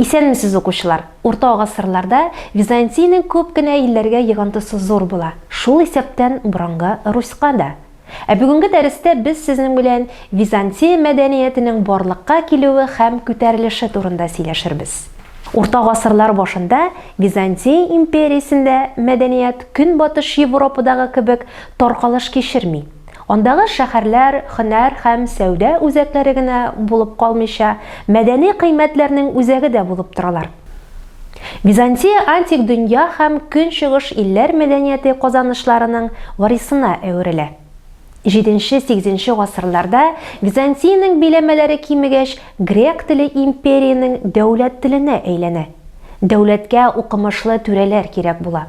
Исәнмесез укучылар! Урта гасырларда Византиянең күп кенә илләргә егантысы зур була, шул исәптән борынгы Руська да. Ә бүгенге дәрестә без сезнең белән Византия мәдәниятенең барлыкка килүе һәм күтәрелеше турында сөйләшербез. Урта гасырлар башында Византия империясендә мәдәният Көнбатыш Европадагы кебек таркалыш кичерми. Андагы шәһәрләр һөнәр һәм сәүдә үзәкләре генә булып калмыйча, мәдәни кыйммәтләрнең үзәге дә булып торалар. Византия антик дөнья һәм көнчыгыш илләр мәдәнияте казанышларының варисына әверелә. Җиденче-сигезенче гасырларда Византиянең биләмәләре кимегәч, грек теле империянең дәүләт теленә әйләнә. Дәүләткә укымышлы түрәләр кирәк була.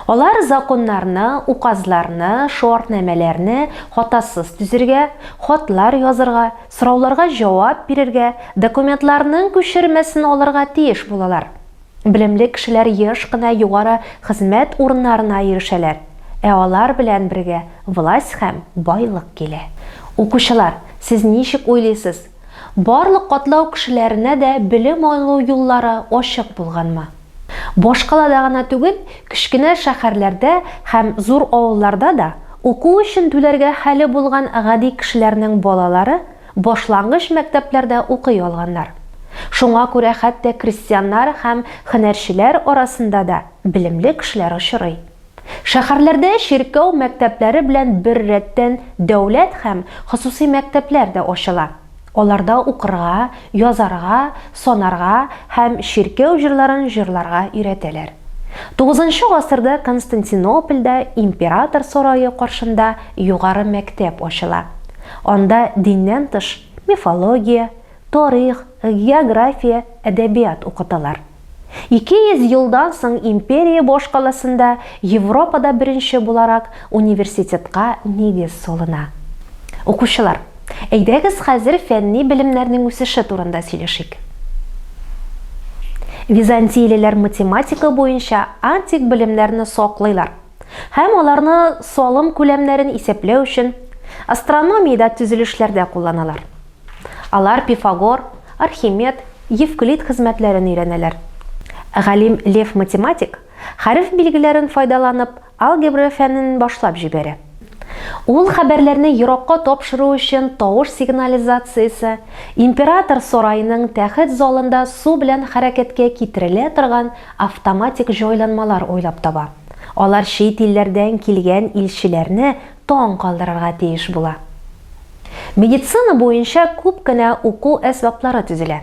Алар законнарны, указларны, шуартнамәләрне хатасыз төзергә, хатлар язырга, сорауларга җавап бирергә, документларның күчермәсен алырга тиеш булалар. Белемле кешеләр еш кына югары хезмәт урыннарына ирешәләр, ә алар белән бергә власть һәм байлык килә. Укучылар, сез ничек уйлыйсыз, барлык катлау кешеләренә дә белем алу юллары ачык булганмы? Башкалада гына түгел, кечкенә шәһәрләрдә һәм зур авылларда да уку өчен түләргә хәле булган гади кешеләрнең балалары башлангыч мәктәпләрдә укый алганнар. Шуңа күрә хәтта крестьяннар һәм һөнәрчеләр арасында да белемле кешеләр очрый. Шәһәрләрдә чиркәү мәктәпләре белән беррәттән дәүләт һәм хосусый мәктәпләр дә ачыла. Аларда укырга, язарга, санарга һәм чиркәү җырларын җырларга өйрәтәләр. Тугызынчы гасырда Константинопольдә император сарае каршында югары мәктәп ачыла. Анда диннән тыш мифология, тарих, география, әдәбият укыталар. Ике йөз елдан соң империя башкаласында Европада беренче буларак университетка нигез салына. Укучылар, әйдәгез хәзер фәнни белемнәрнең үсеше турында сөйләшик. Византиялеләр математика буенча антик белемнәрне саклыйлар һәм аларны салым күләмнәрен исәпләү өчен астрономиядә төзелешләрдә кулланалар. Алар Пифагор, Архимед, Евклид хезмәтләрен өйрәнәләр. Галим Лев Математик хәреф билгеләрен файдаланып алгебра фәнен башлап җибәрә. Ул хәбәрләрне еракка тапшыру өчен тавыш сигнализациясе, император сараеның тәхет залында су белән хәрәкәткә китерелә торган автоматик җайланмалар уйлап таба. Алар чит илләрдән килгән илчеләрне таң калдырырга тиеш була. Медицина буенча күп кенә уку әсбаплары төзелә.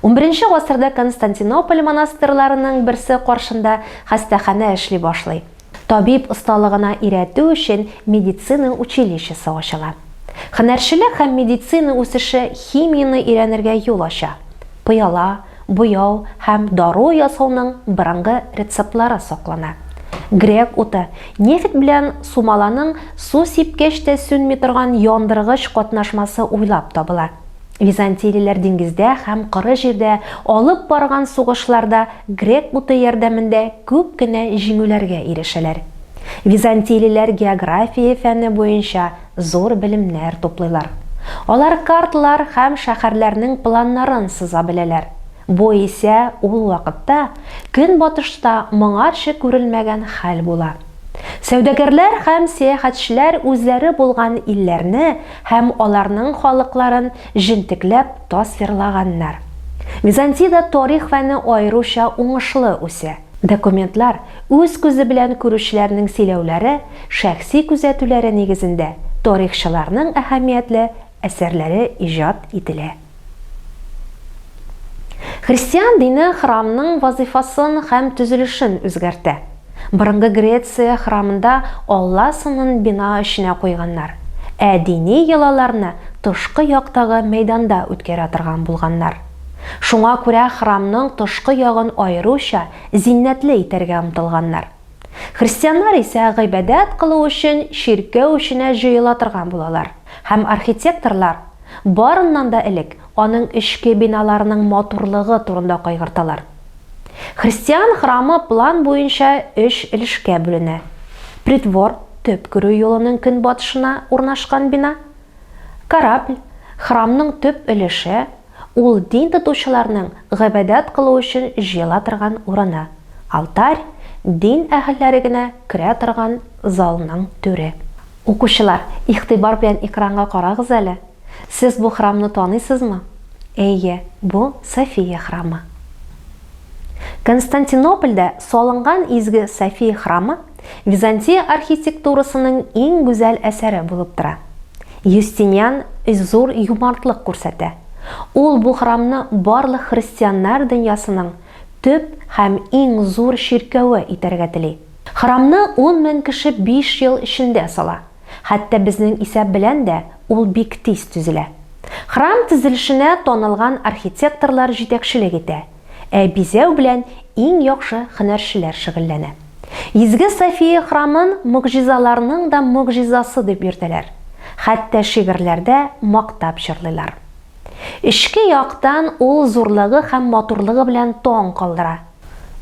Унберенче гасырда Константинополь монастырьларының берсе каршында хастаханә эшли башлый. Табиб осталыгына өйрәтү өчен медицина училищесы ачыла. Һөнәрчелек һәм медицина үсеше химияне өйрәнергә юл ача. Пыяла, Буяу һәм дару ясауның борынгы рецептлары саклана. Грек уты, нефть белән сумаланың су сипкәч тә сүнми торган яндыргыч катнашмасы уйлап табыла. Византийлеләр диңгездә һәм коры җирдә алып барган сугышларда грек уты ярдәмендә күп кенә җиңүләргә ирешәләр. Византийлеләр география фәне буенча зур белемнәр туплыйлар. Алар картлар һәм шәһәрләрнең планнарын сыза беләләр. Бу исә ул вакытта Көнбатышта моңарчы күрелмәгән хәл була. Сәүдәгәрләр һәм сәяхәтчеләр үзләре булган илләрне һәм аларның халыкларын җентекләп тасвирлаганнар. Византиядә тарих фәне аеруча уңышлы үсә. Документлар үз күзе белән күрүчеләрнең сөйләүләре, шәхси күзәтүләре нигезендә тарихчыларның әһәмиятле әсәрләре иҗат ителә. Христиан дине храмның вазыйфасын һәм төзелешен үзгәртә. Борынгы Греция храмында алла сынын бина эченә куйганнар, ә дини йолаларны тышкы яктагы мәйданда үткәрә торган булганнар. Шуңа күрә храмның тышкы ягын аеруча зиннәтле итәргә омтылганнар. Христианнар исә гыйбадәт кылу өчен чиркәү эченә җыела торган булалар һәм архитекторлар, барыннан да элек, аның эчке биналарының матурлыгы турында кайгырталар. Христиан храмы план буенча өч өлешкә бүленә, притвор, төп керү юлының көнбатышына урнашкан бина, Корабль, храмның төп өлеше, ул дин тотучыларның гыйбадәт кылу өчен җыела торган урыны, алтарь, дин әһелләре генә керә торган залның түре. Укучылар, игътибар белән экранга карагыз әле. Сез бу храмны таныйсызмы? Әйе, бу София храмы. Константинопольдә салынган изге София храмы, Византия архитектурасының иң гүзәл әсәре булып тора. Юстиниан зур юмартлык күрсәтә. Ул бу храмны барлык христианнар дөньясының төп һәм иң зур чиркәве итәргә тели. Храмны ун мең кеше биш ел эчендә сала. Хәтта безнең исәп белән дә ул бик тиз төзелә. Храм төзелешенә танылган архитекторлар җитәкчелек итә. Ә бизәү белән иң яхшы һөнәрчеләр шөгыльләнә. Изге София храмын могҗизаларның да могҗизасы дип йөртәләр, хәтта шигырьләрдә мактап җырлыйлар. Эчке яктан ул зурлыгы һәм матурлыгы белән таң калдыра.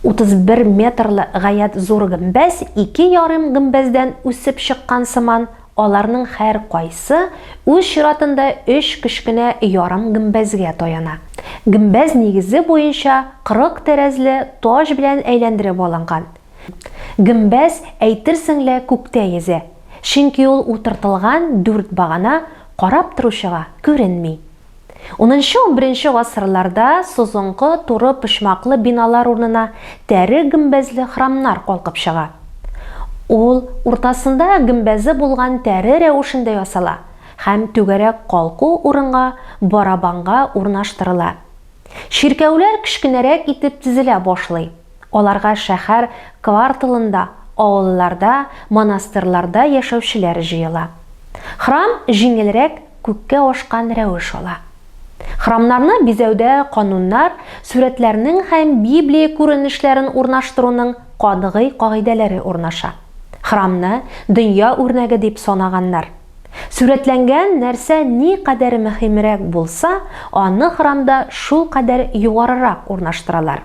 31 метрлы гаять зур гөмбәз ике ярым гөмбәздән үсеп чыккан сыман, Аларның һәркайсы үз чиратында өч кечкенә ярым гөмбәзгә таяна. Гөмбәз нигезе буенча кырык тәрәзле таҗ белән әйләндереп алынган. Гөмбәз, әйтерсең лә, күктә йөзә, чөнки ул утыртылган дүрт багана карап торучыга күренми. Унынчы-унберенче гасырларда созынгы туры почмаклы биналар урынына тәре гөмбәзле храмнар калкып чыга. Ул уртасында гөмбәзе булган тәре рәвешендә ясала һәм түгәрәк калку урынга барабанга урнаштырыла. Чиркәүләр кечкенәрәк итеп тезелә башлый. Аларга шәһәр кварталында, авылларда, монастырьларда яшәүчеләр җыела. Храм җиңелрәк күккә ашкан рәвеш ала. Храмнарны бизәүдә кануннар, сурәтләрнең һәм Библия күренешләрен урнаштыруның катгый кагыйдәләре урнаша. Храмны дөнья үрнәге дип санаганнар. Сурәтләнгән нәрсә никадәр мөһимрәк булса, аны храмда шулкадәр югарырак урнаштыралар.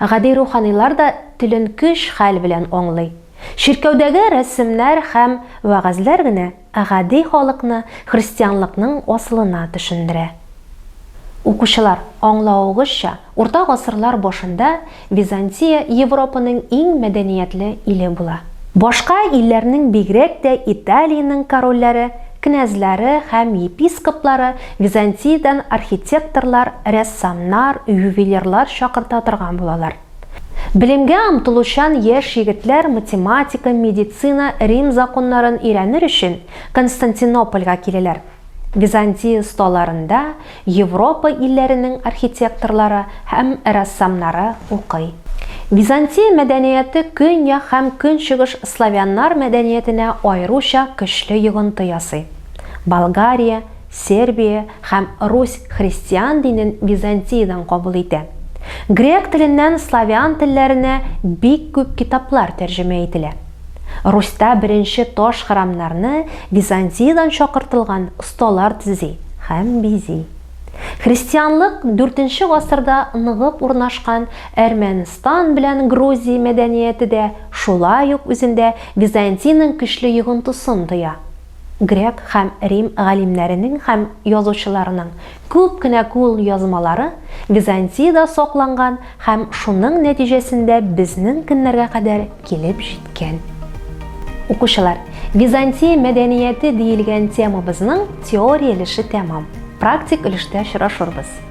Гади руханилар да телен көч хәл белән аңлый. Чиркәүдәге рәсемнәр һәм вәгазьләр генә гади халыкны христианлыкның асылына төшендерә. Укучылар аңлавыгызча, урта гасырлар башында Византия Европаның иң мәдәниятле иле була. Башка илләрнең бигрәк тә Италиянең корольләре, князьлары һәм епископлары Византиядән архитекторлар, рәссамнар, ювелирлар чакырта торган булалар. Белемгә омтылучан яшь егетләр математика, медицина, Рим законнарын өйрәнер өчен Константинопольгә киләләр. Византия осталарында Европа илләренең архитекторлары һәм рәссамнары укый. Византия мәдәнияте көньяк һәм көнчыгыш славяннар мәдәниятенә аеруча көчле йогынты ясый. Болгария, Сербия һәм Русь христиан динен Византиядән кабул итә. Грек теленнән славян телләренә бик күп китаплар тәрҗемә ителә. Русьта беренче таш храмнарны Византиядән чакыртылган осталар төзи һәм бизи. Христианлык дүртенче гасырда ныгып урнашкан Әрмәнстан белән Грузия мәдәнияте дә шулай ук үзендә Византиянең көчле йогынтысын тоя. Грек һәм Рим галимнәренең һәм язучыларының күп кенә кулъязмалары Византиядә сакланган һәм шуның нәтиҗәсендә безнең көннәргә кадәр килеп җиткән. Укучылар, Византия мәдәнияте диелгән темабызның теория өлеше тәмам. Практик өлештә очрашырбыз.